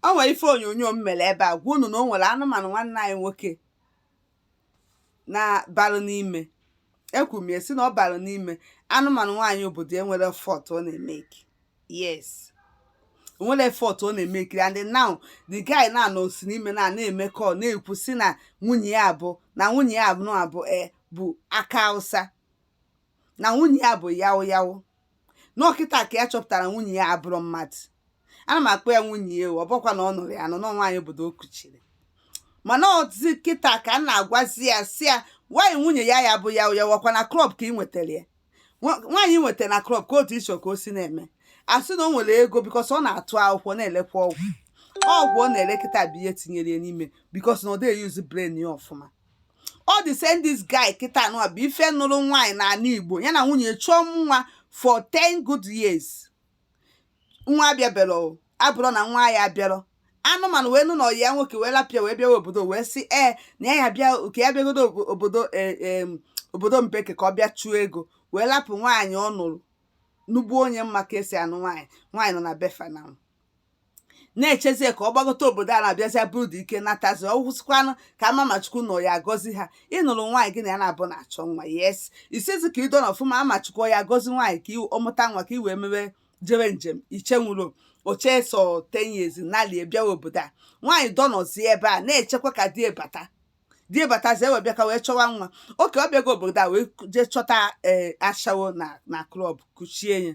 o nwere ife onyonyo m mere ebe a gwa unu na o nwere anụmanụ nwanne anyị nwoke na balụ n'ime ekwuru m ya si na ọ balụ n'ime anụmanụ nwaanyị obodo o nwere effort ọ na-emeki yes o nwere effort ọ na-emeki and now the guy na anọ si n'ime na na-eme call na-ekwu si na nwunye ya abụ na nwunye ya abụ na abụ e bụ aka hausa na nwunye ya bụ yaụ yaụ na ọ kịta ka ya chọpụtara nwunye ya abụrụ mmadụ ana m akpọ ya nwunye ya ọ bụkwa na ọ nụrụ ya anụ na nwaanyị obodo o kuchiri mana ọzi kịta ka m na-agwazi ya si ya nwaanyị nwunye ya ya bụ yaụ yaụ ọkwa na club ka ị nwetara ya Nwa- nwaanyị ị nwetara na club ka otu iso ka o si na-eme asị na o nwere ego because ọ na-atụ akwụkwọ na-elekwa ọgwụ ọgwụ ọ na-ele kịta bụ ihe tinyere ya n'ime because na ọ dịghị use brain ya ọfụma ọ the same this guy kịta nụwa bụ ife nụrụ nwaanyị n'ala igbo ya na nwunye chọọ nwa for 10 good years nwa abịaberọ abụrọ na nwa ya abịara anụmanụ wee nụ na ọyị ya nwoke wee lapịa wee bịawa obodo wee sị ee na ya ya bịa oke ya bịagodo obodo e, obodo mbeke ka ọ bịa chụọ ego wee lapụ nwaanyị ọ nụrụ nugbuo onye ma ka esi anụ nwaanyị nwaanyị nọ na be fa na na-echezie ka ọ gbagote obodo a na-abịazịa bụrụ dike natazi ọwụsịkwanụ ka a ma ma chukwu ọ ya agọzi ha ị nụrụ nwaanyị gị na ya naabọ na-achọ nwa yes isizi ka ị dọnọ ọfụma ma ma chukwu ya agọzi nwaanyị ka ọ mụta nwa ka i wee mewe jebe njem i chenwurọ eche sọ 10 years ị nalie bịawa obodo a nwaanyị dọnọzi ebe a na-echekwa ka di e bata di e batazi e wee bịa ka wee chọwa nwa okay ọ bịago obodo a wee jee chọta ee ashawo na na club kuchie ya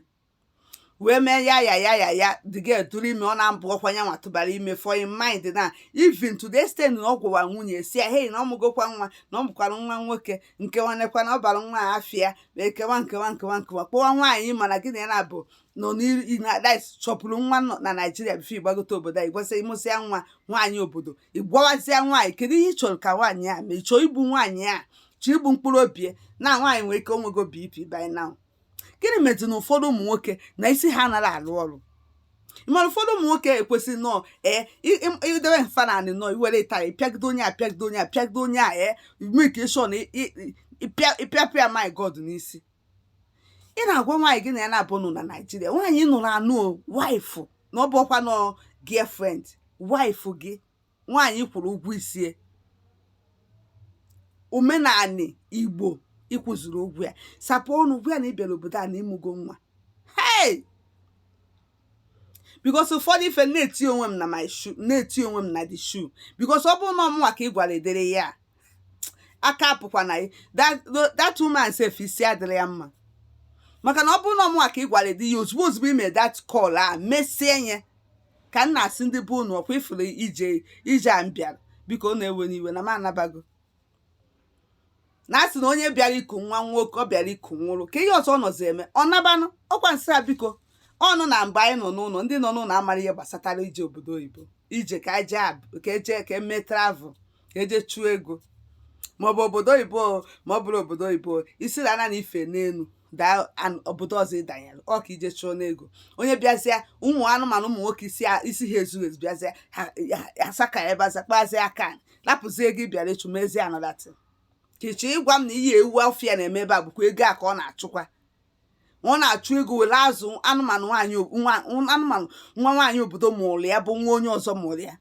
wee mee ya ya ya ya ya the girl tụrụ ime ọ na-abụ ọkwa ya nwa tụbara ime for in mind na even to the extent na ọ gwawa nwunye si ya hei na ọ mụgokwa nwa na ọ mụkwara nwa nwoke nke nwanekwa na ọ bara nwa a afịa ma ekewa nkewa nkewa nkewa kpọwa nwaanyị mana gị na ya naabọ nọ n'iru na dis chọpụrụ nwa nọ na naijiria before ị gbagote obodo a ịgwasị ịmụsịa nwa nwaanyị obodo ịgwawazịa nwaanyị kedu ihe ị chọrọ ka nwaanyị a mee ị chọọ igbu nwaanyị a chọọ igbu mkpụrụ obi ya? na nwaanyị nwere ike onwego bp by now gịnị mezi na ụfọdụ ụmụ nwoke na isi ha anaghị alụ ọrụ mana ụfọdụ ụmụ nwoke ekwesịrị nọọ ee idebe fa n'anị nọọ i were ịtarị pịagide onye a pịagide onye a pịagide onye a ee make sure na ị pịapụ ya maggot n'isi ị na-agwa nwaanyị gị na ya naabọ nọ na naijiria nwaanyị ị nụrụ anụ wife na ọ bụrọkwanụ girlfriend wife gị nwaanyị ị kwụrụ ụgwọ isi e omenani igbo ị kwụzuru ụgwọ ya sapụ ọnụ gwa ya na ị bịara obodo a na ịmụgo nwa hey because ụfọdụ ife na-eti onwe m na my shoe na-eti onwe m na the shoe because ọ bụrụ na ọ mụnwa ka ị gwara ụdịrị ya aka apụkwa na ya that that woman sef isi adịrọ ya mma maka na ọ bụrụ na ọ mụnwa ka ị gwara ụdị ya ozugbo ozugbo i me that call a mesie nye ka m na-asị ndị be unu ọkwa ị fụrụ ije a m bịara biko unu ewena iwe na m anabago na asị na onye bịara iku nwa nwa ọ bịara iku nwụrụ ka ihe ọzọ ọ nọzi eme ọ nabanụ ọkwa m sị a biko ọnụ na mgbe anyị nọ n'ụlọ ndị nọ n'ụlọ amara ihe gbasatara ije obodo oyibo ije ka eje ka eme travel ka eje chụọ ego maọbụ obodo oyibo ma ọ bụrụ obodo oyibo i si n'ana na ife n'elu daa obodo ọzọ ịdanyere ọ ka ije chụọ n'ego onye bịazịa ụmụ anụmanụ ụmụ nwoke isi ha ezughị ezu bịazịa asa ka ebe aza kpazie aka lapụzie ego ị bịara ịchụ mezie another thing ka ịchọ ịgwa m na ihe ewu ọfịa na-eme ebe a bụkwa ego a ka ọ na-achụkwa ọ na-achụ ego were azụ anụmanụ nwaanyị anụmanụ nwa nwaanyị obodo mụrụ ya bụ nwa onye ọzọ mụrụ ya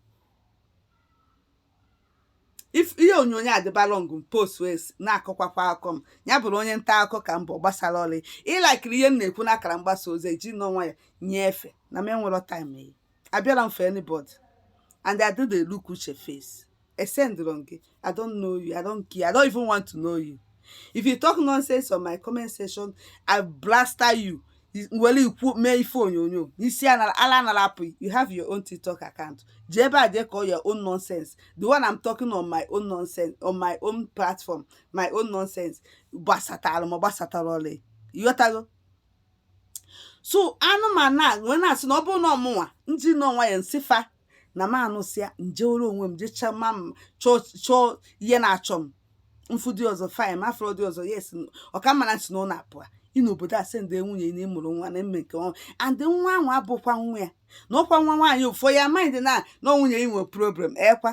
if ihe onyonyo a dịba long m post wee s- na-akọkwakwa akụkọ m ya bụrụ onye nta akụkọ ka m bụ ọ gbasarọ ị ị likerọ ihe m na-ekwu n'akara mgbasa ozi i jinụ nwayọ nyefee na m enwerọ time gị abịarọ m for anybody and I didn't look uche face esendịrọ m gị I don't know you I don't care I don't even want to know you if you talk nonsense on my comment section i blaster you nwere ikwu mee ife onyonyo n'isi ala anara apụ you have your own tiktok account jee ebe a jee kọọ your own nonsense the one i'm talking on my own nonsense on my own platform my own nonsense gbasatara m ọ gbasatarọ ị ịghọtago so anụmanụ a wee na-asị na ọ bụrụ na ọ mụnwa ndị nọ nwa ya nsịfa na m anụsịa njewere onwe m jechaa ma m chọọ ihe na-achọ m m fụ di ọzọ fine m afụrọ di ọzọ yes ọ ka mma na asị na ọ na-apụa ị n'obodo a sị ndị nwunye na ịmụrụ nwa na mme nke ọnwa and nwa ahụ abụkwa nwa ya na ọkwa nwa nwaanyị for your mind na ọ nwunye ị nwe problem ekwa